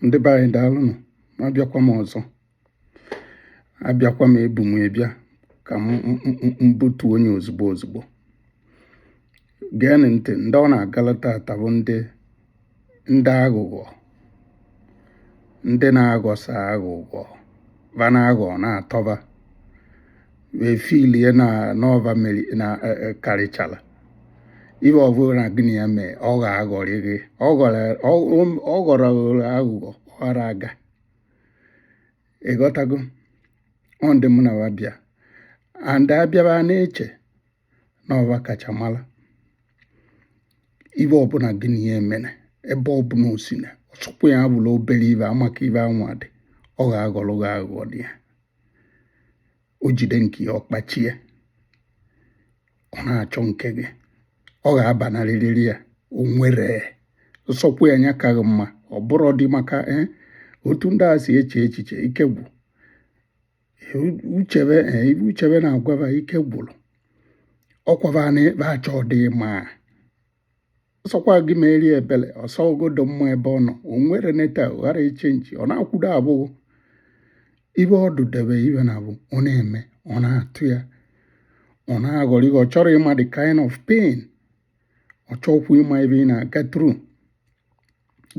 ndị be anyị daalụnụ ma abịakwa m ọzọ abịakwa m ebu m ebịa ka m butu onye ozugbo ozugbo geenụ ntị ndị ọ na-agala tata bụ ndị ndị aghụghọ ndị na-aghọsa aghụghọ va na-aghọ na-atọ va wee feel-ie na ọ va mmiri na e, e, karịchara ibe ọbụla gị na ya mee ọ ga-aghọrị gị ọ ghọrọ aghụghọ ọ ghara aga ị ghọtago ọ ndị mụ na wa bịa and a bịa va na-eche na ọ va kacha mara ibe ọbụla gị na ya emene ebe ọbụla o sina ọ sọkwa ya bụrụ obere ibe a ma ka ibe anwa dị ọ ga-aghọrọ gị aghụghọ dị ya o jide nke ya ọ kpachie ọ na-achọ nke gị ọ ga-abanarịrị ya o nwere nsọkwu ya anya kaghị mma ọ bụrụ dị maka eh, otu ndị a si eche echiche ike gwụ uche va eh, ibe uche va na-agwa va ike gwụrụ ọ kwa va na ịkpa achọ ọdịmma ọ sọkwa gị meere ya ebele ọ sọgodo mma ebe ọ nọ o nwere neta ghara ị-change ọ na-akwụdo abụghị ibe ọdụ debe ibe na abụ ọ na-eme ọ na-atụ ya ọ na-aghọrọ ihe ọ chọrọ ịma the kind of pain ọ chọkwu ịma ibe ị na-aga through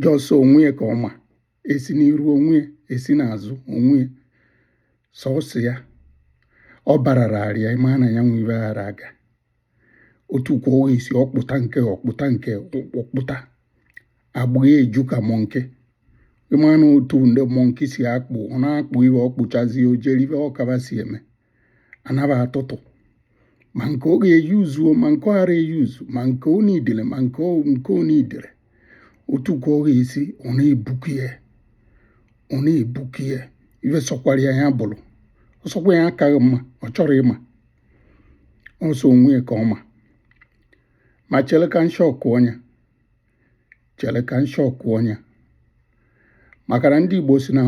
just onwe ya ka ọ ma e si n'iru onwe ya e si n'azụ onwe ya sọsọ ya ọ barara arịa ịma na ya nwe ibe ghara aga otu kwa ọ esi ọ kpụta nke ọ kpụta nke ọ kpụta agba eju ka monkey ị manụ otu ndị monkey si akpụ ọ na-akpụ ihe ọ kpụchazi o jere ibe ọ ka va si eme a na va atụtụ ma nke ọ ga-e-use-uo ma nke ọ ghara e-use ma nke ọ needere ma nke ọ nke ọ needere otu kwa ọ ga-esi ọ na-ebuku ya ọ na-ebuku ya ife sọkwara ya ya bụrụ ọ sọkwa ya akaghị mma ọ chọrọ ịma ọ sọ onwe ya ka ọ ma ma chere ka nshịkọ ọnya chere ka nshịkọ ọnya maka na ndị Igbo si na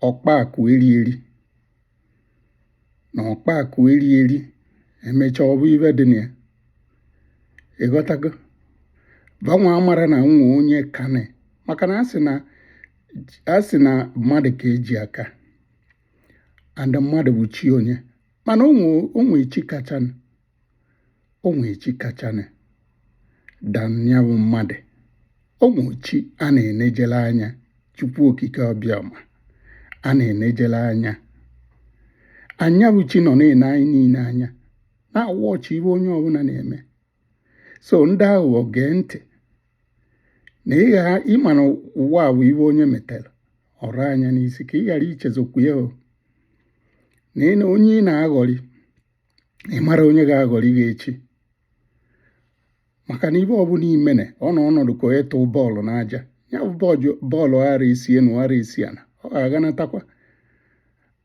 ọkpa akụ eri eri na ọkpa akụ eri eri emechaa ọ bụ ibe dị na ya ị ghọtago va nwa amara na o nwe onye kane maka na a sị na a sị na mmadụ ka e ji aka and mmadụ bụ chi onye mana o nwe chi kachanụ o nwe chi kachanụ danyanwụ mmadụ o nwe chi a na-enejele anya chukwu okike ọbịama a na-enejele anya anyanwụ chi nọ na-ene anyị niile anya na-a-watch ibe onye ọbụla na-eme so ndị aghụghọ gee ntị na ị ghara ịma na ụwa a bụ ibe onye metere o buru ya n'isi ka ị ghara ichezokwu ya na ị na onye ị na-aghọrị ị mara onye ga-aghọrị gị echi maka na ibe ọbụla i mene ọ na ọ na-adụ ka onye tụọ bọọlụ n'aja ya bụ bọọlụ ara isi enu ara isi ana ọ ga-aganatakwa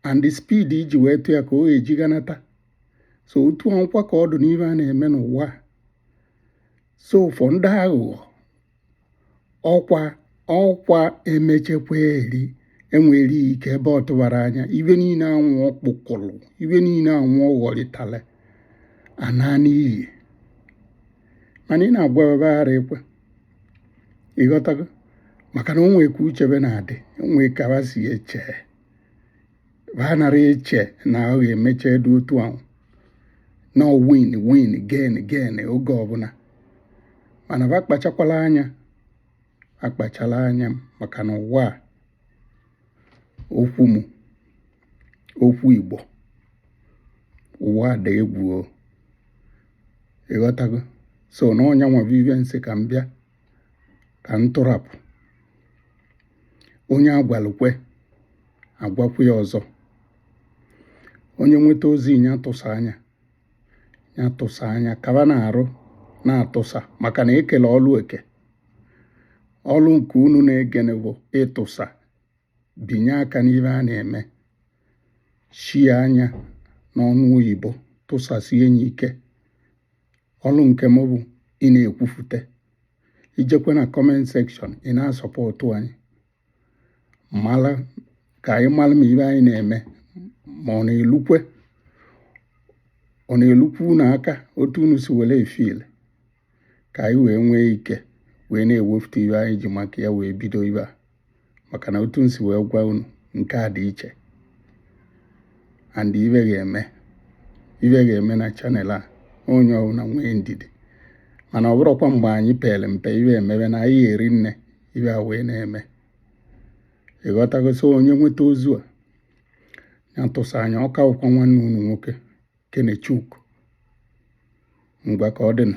and the speed e ji wee tụ ya ka o eji ganata so otu ahụkwa ka ọ dụ n'ibe a na-eme n'ụwa so for ndị aghụghọ ọkwa ọkwa emechekwa eri enwere ike ebe ọ tụbara anya ibe niile ahụ ọ kpọkọrọ ibe niile ahụ ọ ghọrịtara ana n'iyi mana ị na-agwa ba ara ekwe ị ghọtago maka na o nwe ka uche ba na-adị o nwe ka ba si eche ba anara eche na ọ ga-emecha adụ otu ahụ na win win gain gain oge ọbụla mana ba kpachakwala anya akpachala anya maka na ụwa a okwu m okwu Igbo ụwa dị egwu ị ghọtago so na ọ ya bụ ibe m sị ka m bịa ka m tụrapụ onye a gwalụ kwe a gwakwa ya ọzọ onye nweta ozi ya tụsaa ya ya tụsaa ya ka ba na-arụ na-atụsa maka na e kelụ ọlụ eke ọlụ nke unu na-egene bụ ịtụsa binye aka n'ibe a na-eme share ya n'onu oyibo tụsasie ya ike ọlụ nke m bụ ị na-ekwufute ijekwa na comment section ị na-asupport anyị mara ka anyị mara ma ibe anyị na-eme ma ọ na-elukwa ọ na-elukwu unu aka otu unu si were efeel ka anyị wee nwee ike wee na-ewepụta ibe anyị ji maka ya wee bido ibe a maka na otu m si wee gwa unu nke a dị iche and ibe ga-eme ibe ga-eme na channel a onye ọbụla nwee ndidi mana ọ bụrụkwa mgbe anyị pere mpe ibe emebe na anyị eri nne ibe a wee na-eme ị ghọtago so onye nweta ozi a ya tụsaa ya ọ ka bụkwa nwanne unu nwoke Kenechukwu ngwa ka ọ dịna